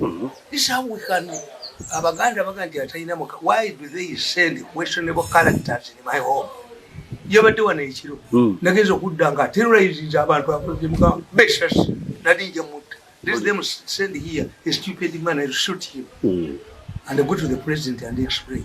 Mm-hmm. This is how we can abaganda baga nti atalina muka why do they send questionable characters in my home yabadde wano ekiro hmm. nagenza okudda nga terrorizinze abantu akozemuka beshas nali nja mutta let them send here a stupid man and shoot him hmm. and go to the president and explain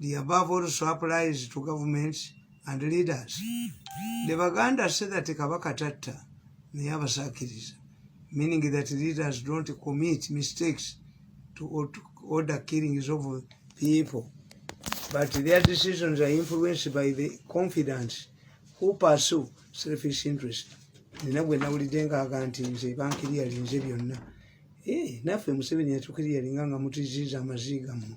The above also applies to governments and leaders. The Baganda say that Kabaka Tatta Niyabasakiriza, meaning that leaders don't commit mistakes to order killings of people, but their decisions are influenced by the confidence who pursue selfish interest. Nina bwe nawulidde ngaaga nti nze bankiriyalinze byonna. Hey, eh, naffe Museveni yatukiriyalinga nga mutiziiza amaziiga mmwe.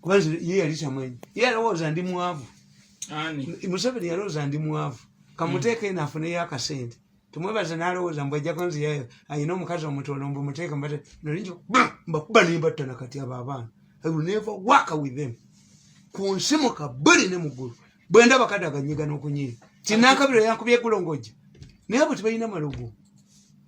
kwanza ye yali kyamwenyi ye yalowooza ndi mwavu museveni yalowooza ndi mwavu kamuteeka eno afuneyo akasente tumwebaza nalowooza mbu ajja kwanza yayo ayina omukazi omutolo mbu muteeka mbate nalinja mbakuba nimbatta nakati abo abaana i will never work with them ku nsi mu kabuli ne mu ggulu bwe ndaba kadde akanyiga n'okunyiira tinakabira yankubye egulongojja naye abo tebalina malogo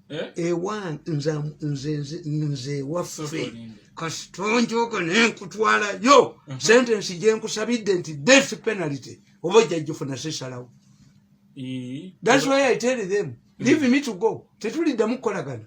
eh? ewa nze waffe kasitonjoga nenkutwalayo uh-huh. sentensi gyenkusabidde nti death penalty oba ojjajjufuna sisalawo eh? that's why i tell them leave me to go tetuliddamu kukolagana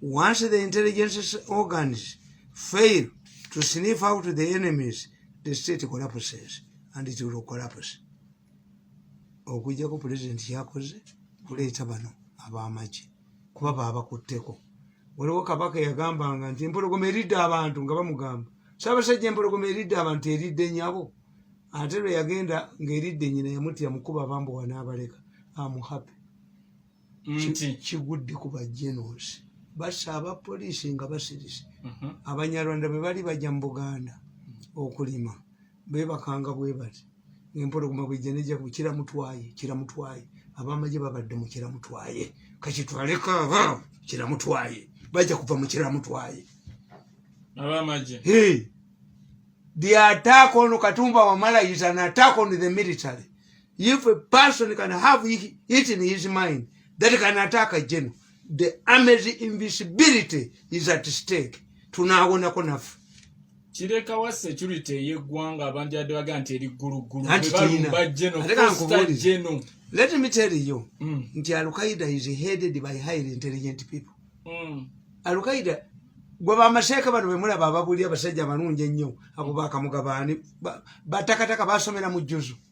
Once the intelligence organs fail to sniff out the enemies, the state collapses and it will collapse. Okujjako president yakoze kuleeta bano ab'amagye kuba baabakutteko. Waliwo kabaka yagambanga nti empologoma eridde abantu nga bamugamba Ssaabasajja empologoma eridde abantu eridde nyabo ate lwe yagenda ng'eridde nyina yamutya mukuba bambuwa n'abaleka amuhape. nti kigudde ku bajenos basa aba poliisi nga basirise mhm. abanyarwanda bwe bali bajja mu buganda okulima bebakanga bwe bati empologoma bwejja nejja ku kiramutwaye kiramutwaye abamagye babadde mu kiramutwaye kakitwaleko aba kiramutwaye bajja kuva mu kiramutwaye abamagye hey. the attack on katumba wamala is an attack on the military If a person can have it in his mind that can attack a general, the army's invisibility is at stake. Tunaawonako nafe. kirekawa security ey'eggwanga abantu yadde baga nti eri gguluggulu bebalumba geno let me tell you mm. nti alqaida is headed by highly intelligent people mm. alqaida gwe bamaseeka bano bemulaba ababuli abasajja abalungi ennyo abo bakamugabaani batakataka basomera mu jjuzu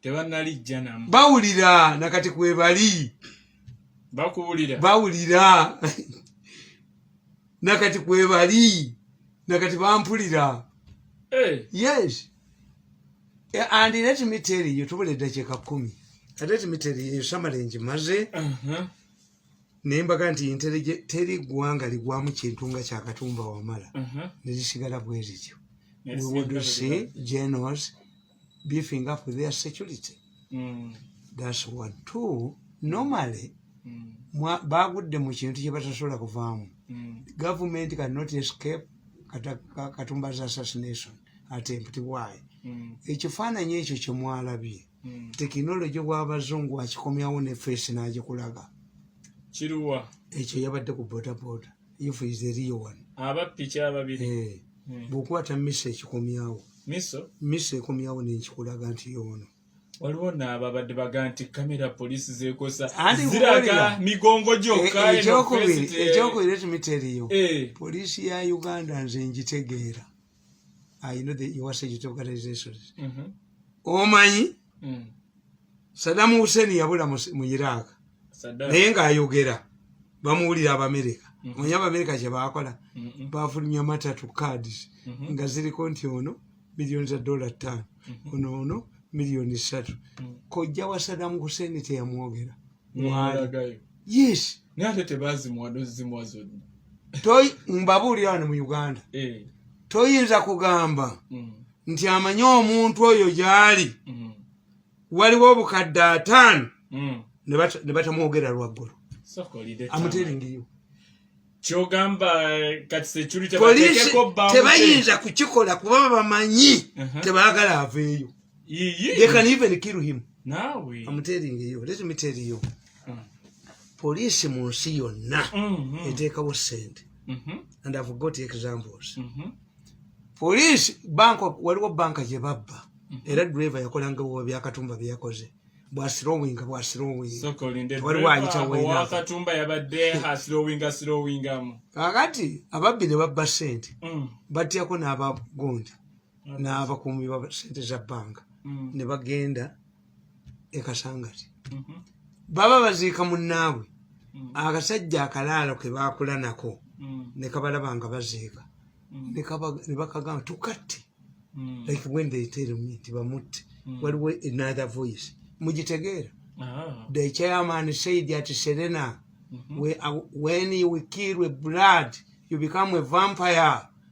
tebanalijjanamu bawulira nakati kwebali bakuwulira bawulira nakati kwebali nakati bampulira eh. yes eh, and let me tell you tubula eddakiika kumi let me tell you samala enjimaze uh-huh. nembaga nti intellige teri ggwanga ligwamu kintu nga kyakatumba wamala uh-huh. nezisigala bwezityo we would see genos beefing up their security mm. that's one two normally mm. bagudde mu kintu kye batasobola kuvaamu mm. government can not escape katumba's assassination attempt why mm. ekifaananyi ekyo kye mwalabye mm. tekinologi bw'abazungu akikomyawo ne feesi n'agikulaga kiruwa ekyo yabadde ku bodaboda if is the real one aba piki ababiri eh hmm. bukwata miso ekikomyawo miso miso ekomyawo nenkikulaga nti yono waliwo naabo abadde baga nti kamera polisi zekosa ziraga migongo gyokaekyokubiri eh, eh, ekyokubiretumiteriyo eh. polisi ya uganda nze njitegeera I know the your sage organizations. Mm -hmm. Omanyi mm. Saddam Hussein yabula mu Iraq. Saddam. Naye nga ayogera bamuwulira Abamerika. Mm -hmm. Mwenye Abamerika kye bakola mm -hmm. bafulumya matatu cards mm -hmm. nga ziriko nti ono milioni za dola ttaano mm -hmm. ono ono milioni ssatu mm -hmm. kojja wa Saddam Hussein teyamwogera. Mm -hmm. Yes. naye ate tebazimuwa nozimuwa zonna toyi mbabuulira wano mu uganda eh. toyinza kugamba mm. nti amanyi omuntu oyo gyali mm. waliwo obukadde ataano mm. ne batamwogera lwaggulu amuteeringeyo kyogamba kati security tebayinza kukikola kuba bamanyi uh-huh. tebagala aveeyo they can even kill him nawe i'm telling you let me tell you mm. police mu nsi yonna mm -hmm. eteekawo sente mm -hmm. and i've got examples mm -hmm. police bank waliwo banka gye babba mm -hmm. era driver yakolanga buba byakatumba byeyakoze bwasilowinga bwasilowinga waliwo ayitawakatumba yabadde asilowinga silowingamu kakati ababbi ne babba sente mm. batyako n'abagonja n'abakuumi ba sente za bbanga mm. ne bagenda e kasangati mm-hmm. baba baziika munnaabwe mm. akasajja akalaalo ke baakula nako mm. ne kabalaba nga baziika ne bakagamba tukatte like when they tell me nti bamutte waliwo another voice mugitegeera ah. the chairman said at serena mm-hmm. when you kill a blood you become a vampire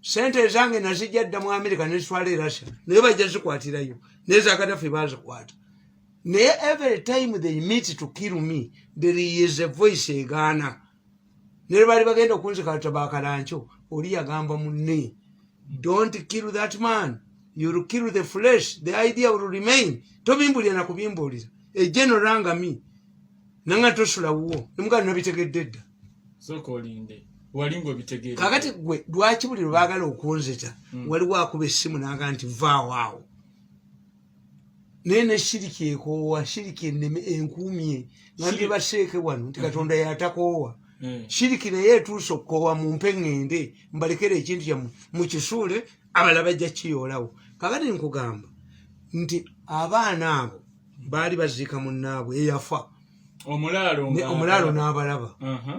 sente ezange nazijja dda mu amerika nezitwala e russia naye bajja zikwatirayo naye zakadafe bazikwata naye every time they meet to kill me there is a voice egaana naye baali bagenda okunzikata bakalankyo oli yagamba munne don't kill that man you'll kill the flesh the idea will remain tobimbulira nakubimbuulira egenorangami nanga tosula wuwo nemugano nabitegedde dda sooka olinde wali ngaobitegeera kakati gwe lwaki buli lwebaagala okunzita hmm. waliwo akuba essimu naaga nti vaawo awo naye neshiriki ekoowa shiriki eneme enkuumye nambye baseeke wano nti hmm. katonda yatakoowa hmm. shiriki naye etuusa okukoowa mu mpe ŋŋende mbalekera ekintu kyammwe mukisuule abala bajja kiyoolawo kakati nkugamba nti abaana abo baali baziika munnaabwe eyafa omulaalo n'abalaba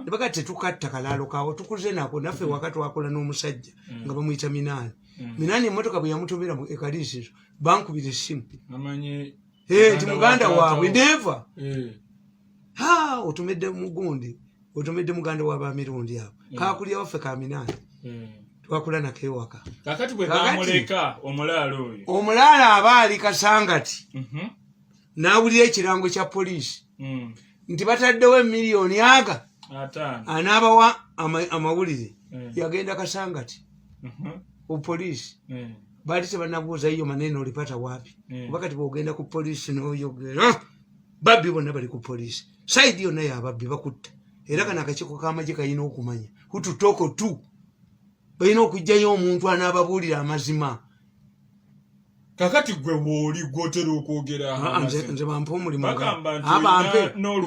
nebaga tetukatta kalaalo kaawo tukuze nako naffe mm. waka twakola n'omusajja mm. nga bamuyita minaani mm. minaani emotoka bwe yamutobera mu ekaliisizo bankubira essimu eh, nti muganda waabwe neva eh. ha otumedde mugundi otumedde muganda wa bamirundi abo kakulya waffe ka minaani twakula nako ewaka omulaalo aba ali kasangati mm-hmm. n'awulira ekirango kya poliisi hmm. nti bataddewo emiliyoni aga anaabawa amawulire hmm. yagenda kasangati mhm. ku poliisi hmm. baali tebanabuuza yiyo manene olipata waapi kuba kati bwogenda ku poliisi noyogera ah! babbi bonna bali ku poliisi saidi yonna yababbi bakutta era kana akakiiko k'amagye kalina okumanya hututoko tu balina okugyayo omuntu anaababuulira amazima kakati gwe wooli gwotera okwogera ah, ah, nze bampa omulimu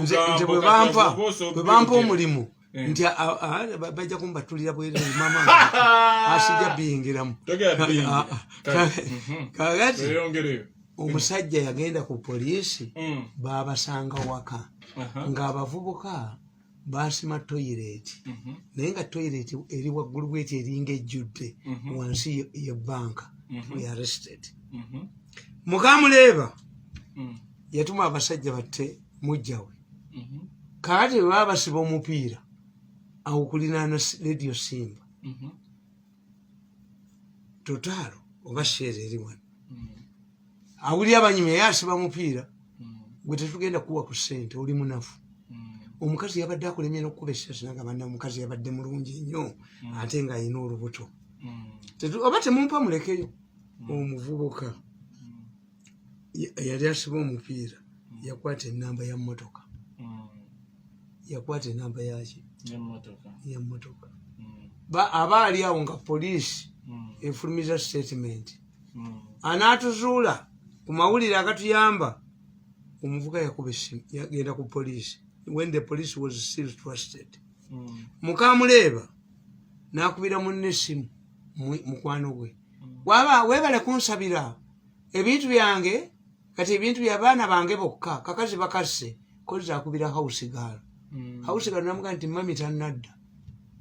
nze bwebampa omulimu eh. nti ah, bajja kumbatulira bwerere mama asijja biyingiramu kakati omusajja yagenda ku poliisi mm. babasanga waka uh-huh. ng'abavubuka baasima toyireeti mhm. naye nga toyireeti eri waggulu bweti eringa ejjudde mhm. wansi ye banka mhm. we arrested mukamuleeba mm. yatuma abasajja batte mujjawe kaati baba basiba omupiira awo kulinaana rediyo simba totaalo oba sheera eri wano awulira abanyumya yasiba mupiira gwe tetugenda kuwa ku sente oli munafu omukazi yabadde akulemyera okukuba esasi naga banna omukazi yabadde mulungi nnyo ate nga alina olubuto oba temumpa mulekeyo omuvubuka yali asiba omupiira mm. yakwata enamba ya motoka mm. yakwata enamba yaki ya motoka mm. aba ali awo nga poliisi efulumiza statement anaatuzuula ku mawulire agatuyamba omuvuka yakuba essimu yagenda ku poliisi when the police was still trusted mukamuleeba n'akubira munne essimu mukwano gwe waba webale kunsabira ebintu byange kati ebintu byabaana bange bokka kakazi bakasse kozi akubira hausigaalo mm. hausigaalo namuga nti mami tanadda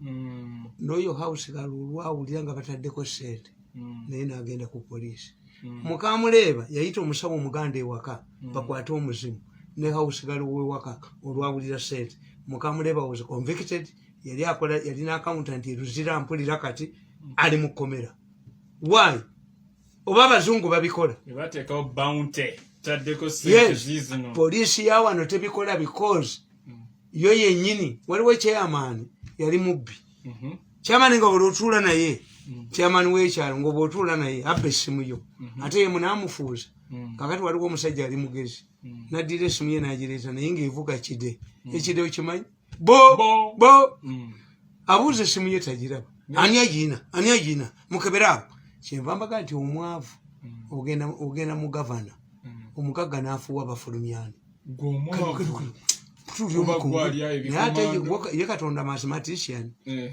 mm. noyo hausigaalo olwawulira nga bataddeko sente mm. naye nagenda ku poliisi mm. mukamuleeba yayita omusawo omuganda ewaka mm. bakwate omuzimu ne hausigaalo wewaka olwawulira sente mukamuleeba was convicted yali akola yalina akauntanti eruzira mpulira kati mm. ali mu kkomera why oba abazungu babikola poliisi ya wano tebikola because mm. yo yenyini waliwo chairman yali mubbi mhm. chairman nga olwotuula naye mm. chairman wekyalo ngaoba otuula naye abba essimu yo mhm. ate ye munamufuuza mm. kakati waliwo omusajja ali mugezi naddira essimu ye nagireeta naye ngaevuga kide ekideyo kimanyi bo bo bo mm. abuuza esimu ye tagiraba ani agiina ani agiina mukebere awo kyenva mbaga nti omwavu mm. ogenda mu gavana mm. omugagga n'afuuwa bafulumyani naye ate ye katonda mathematician eh.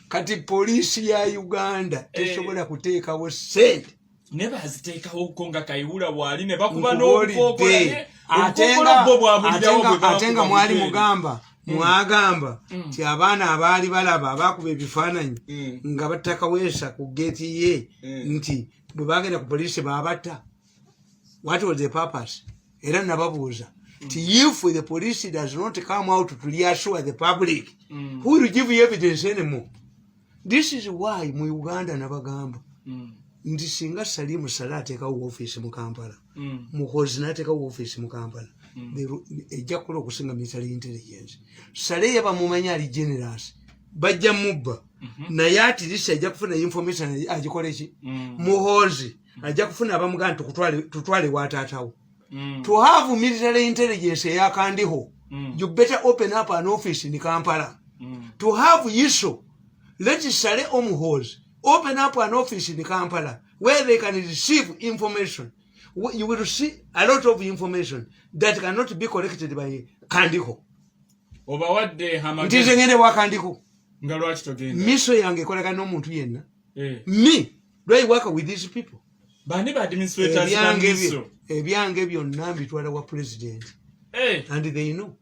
kati poliisi ya uganda eh. tesobola kuteekawo sente ne baziteekawo ko nga kayiwula waali ne bakuba n'obukookolaate nga mwali mugamba mm. mwagamba mm. nti abaana abaali balaba abakuba ebifaananyi mm. nga batakaweesa ku geeti ye nti bwe bagenda ku poliisi babatta what was the purpose era nababuuza ti if the police does not come out to reassure the public mm. who will give you evidence anymore this is why mu uganda nabagamba mm. nti singa salimu sale ateekawo office mu kampala mm. muhozi nateekawo office mu kampala mm. ejja kukola okusinga military intelligence sale yabamumanya ali generous bajja mubba mm-hmm. naye atirisi ajja kufuna information agikoleki mm. muhozi mm -hmm. mm. ajja kufuna abamugana tutwale wa taatawo mm. to have military intelligence eyakandiho mm. you better open up an office in kampala mm. to have yiso let sale omuhoozi open up an office in kampala where they can receive information you will see a lot of information that cannot be collected by kandiho obawadde ntize ngende wa kandiho nga lwaki togenda miso yange ekolagana n'omuntu yenna eh. mi do i work with these people bani ba administrators ebyange byo ebyange byo nambi twala wa president hey. Eh. and they know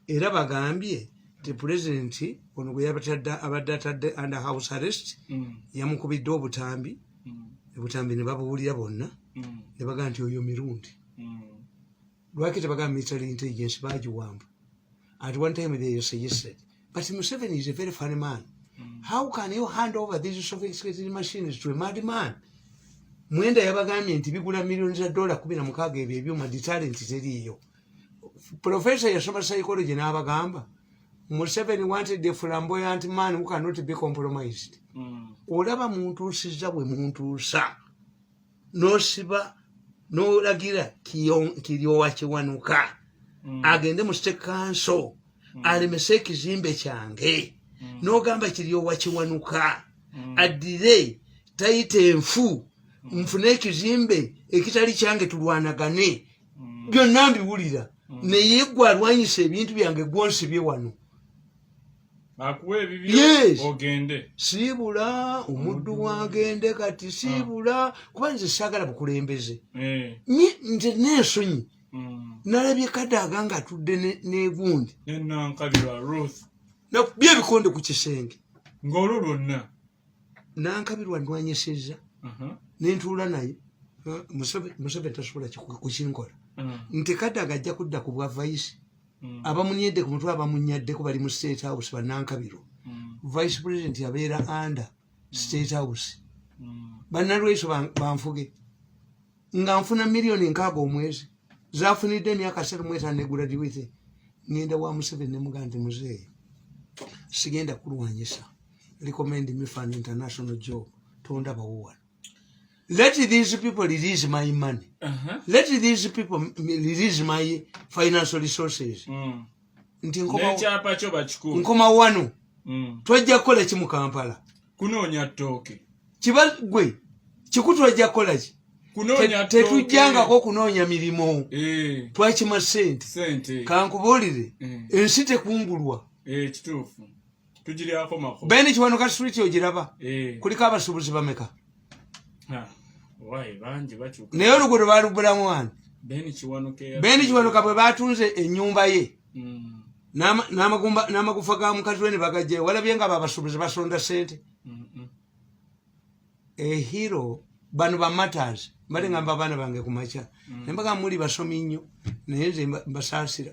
era bagambye ti president ono gwe yabatadde abadde atadde under house arrest mm. yamukubidde obutambi mm. obutambi ne babuwulira bonna mm. ne bagamba nti oyo mirundi mm. lwaki tebagamba military intelligence bagiwamba at one time they suggested but museveni is a very funny man mm. how can you hand over these sophisticated machines to a mad man mwenda yabagambye nti bigula millioni za dola kumi na mukaaga ebyo ebyuma detalent teriiyo profesa yasoma psychology n'abagamba museveni wanted a flamboyant man who cannot be compromised mm. olaba muntuusiza bwe muntuusa nosiba nolagira kiryowa kiwanuka mm. agende mu state council mm. alemese ekizimbe kyange mm. nogamba kiryowa kiwanuka mm. addire tayita enfu mm. nfune ekizimbe ekitali kyange tulwanagane mm. byonna mbiwulira mm. naye gwe alwanyisa ebintu byange gwonsibye wano akuwa ebibyo ogende siibula omuddu wagende kati siibula ah. kuba nze saagala bukulembeze eh. nze nensonyi hmm. nalabye kadaaga nga atudde negundi nakubye ebikonde ku kisenge ngaolwo lwonna nankabirwa ndwanyeseza uh-huh. nentuula naye museveni tasobola kukinkola hmm. nti kadaaga ajja kudda ku bwa vaisi mm. abamunyedde ku mutwe abamunyaddeko bali mu state house banankabiro mm. vice president abeera under mm. state house banalwaiso banfuge nga nfuna miliyoni nkaaga omwezi zafunidde emyaka satu mwetano neguradiwithe ngenda wa museveni nemuga nti muzeeyi sigenda kulwanyisa recommend me fan international job tondabawo wano let these people release my money uh -huh. let these people release my financial resources mm. nti nkoma wano mm. twajja kukola ki mu kampala kunoonya ttooke kiba gwe kiku twajja kukola ki tetujjangako okunoonya mirimu eh. twakima sente kankubuulire eh. ensi tekungulwa eh, beni kiwanuka street ogiraba eh. kuliko abasuubuzi bameka ah, naye oluguudo balubulamu wani beni kiwanuka bwe batunze enyumba ye mm. n'amagufa ga mukazi we ne bagajjayo walabye nga babasuubuzi basonda sente ehiro bano bamatas mbale ngamba abaana bange kumakya mm. naye mbaga muli basomi nnyo naye nze mbasaasira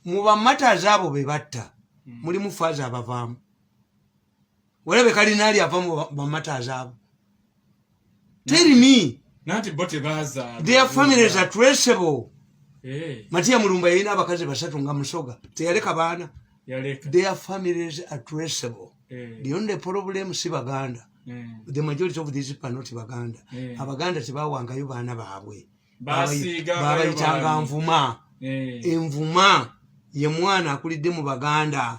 mu bamatas abo be batta mm. mulimu faaza abavaamu walabe kalinaali ava mu bamatas abo teri mi their families are traceable eh. matiya mulumba yalina abakazi basatu nga musoga teyaleka baana their families are traceable mm. the only problem si baganda mm. the majority of these people are not baganda mm. abaganda tebawangayo baana baabwe babayitanga nvuma mm. envuma ye mwana akulidde mu baganda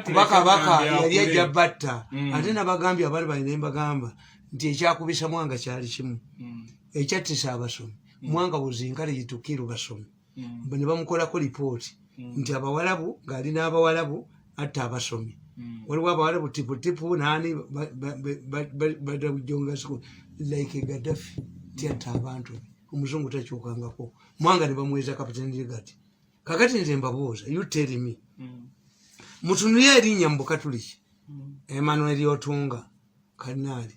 kuba kabaka yali ajja batta mm. ate nabagambye abali balina embagamba nti ekyakubisa mwanga kyali kimu mm. ekyattisa abasomi mm. mwanga buzinkale yitukiru basomi mm. ne bamukolako lipooti mm. nti abawalabu ng'ali n'abawalabu atta abasomi mm. waliwo abawalabu tiputipu naani badawujongasiku like gadafi ti atta abantu be omuzungu takyukangako mwanga ne bamweza kapitenirigati kakati nze mbabuuza you tell me mutunuye erinnya mu bukatuliki emmanuel otunga kanaali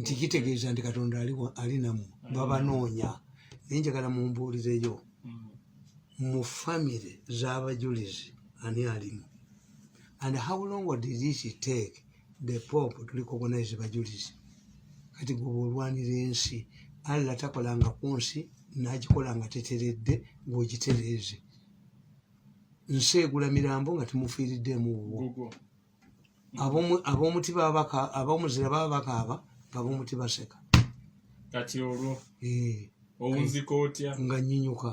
nti kitegeeza nti katonda ali namwe mm. babanoonya naye njagala mumbuulireyo mm. mu famire z'abajulizi ani alimu and how long did it take the pope to recognize bajulizi kati gwoba olwanira ensi allah takolanga ku nsi nagikola nga teteredde ng'ogitereeze nsi egula mirambo nga temufiiriddeemu wuwo ab'omuti babaka ab'omuzira baba bakaaba nga b'omuti baseka kati olwo eh. owunzika otya nga nyinyuka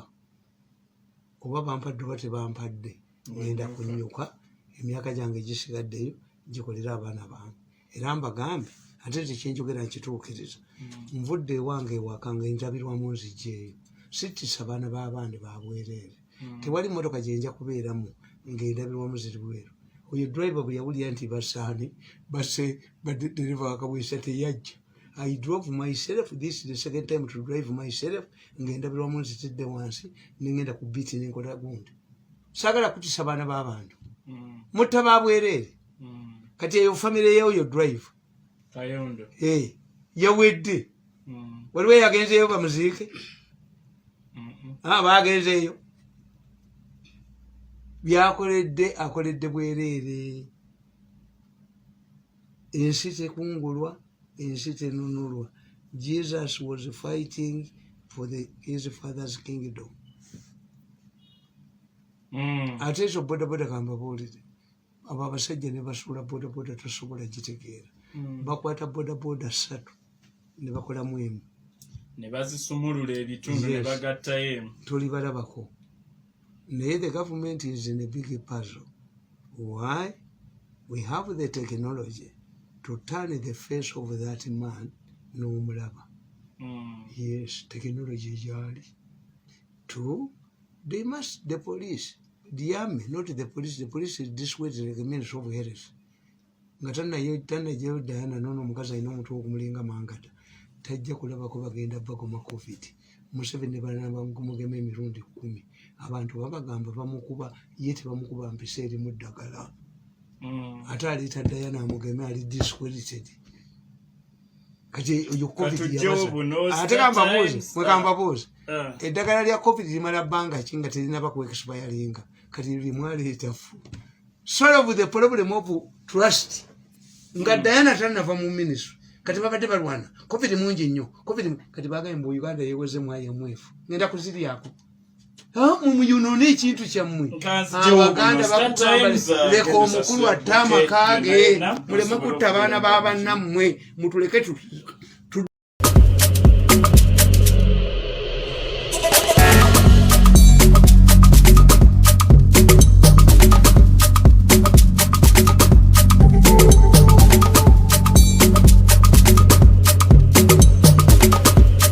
oba bampadde oba tebampadde ngenda kunyuka emyaka gyange gisigaddeyo gikolera abaana bange era mbagambe ate nti kyenjogera nkituukiriza hmm. nvudde ewange ewaka nga enjabirwamu nzigyeyo sittisa baana b'abaandi babwereere hmm. tewali motoka gyenja kubeeramu ng'endabirwamu ziri bweru oyo driver bwe yawulira nti basaani base badereva wakabwesa teyajja i drove myself this the second time to drive myself ng'endabirwamu nzitidde wansi nengenda ku biiti nenkola gundi saagala kutisa baana b'abantu hmm. mutta babwereere hmm. kati eyo famiry yeoyo driver eh, yawedde mm. waliwo eyagenzeeyo bamuziike ah, bagenzeeyo byakoledde akoledde bwereere ensi tekungulwa ensi tenunulwa jesus was fighting for the, his father's kingdom mm. ate ekyo bodaboda kambabuulire abo abasajja ne basuula bodaboda tosobola gitegeera hmm. bakwata bodaboda ssatu ne bakolamu emu ne bazisumulula ebitundu ne bagattayo emu toli balabako naye the government is in a big puzzle why we have the technology to turn the face of that man n'omulaba hmm. yes technology gyali to they must the police the army not the police the police is this way like a means of health nga tanayo tanayo dayana nono mukazi alina omutwe ogumulinga mangata tajja kulabako bagenda bagoma covid museveni balanabamugema emirundi kumi abantu babagamba bamukuba ye tebamukuba mpisa erimu ddagala mm. ate aliita dayana amugeme ali disqualited kati oyo covid ate kambabuuzi mwekambabuuzi ah. ah. eddagala lya covid limala bbanga ki nga terinaba ku expiringa kati limwaleetafu solve the problem of trust nga hmm. diana tanava mu ministry kati babadde balwana covid mungi nnyo covid kati bagaye mbu uganda yeweze mwayamwefu ngenda kuziryaku muyonone ekintu kyammwe abaganda ah, bakugamba uh, leka omukulu atte amaka ge muleme kutta abaana ba bannammwe mutuleke tuti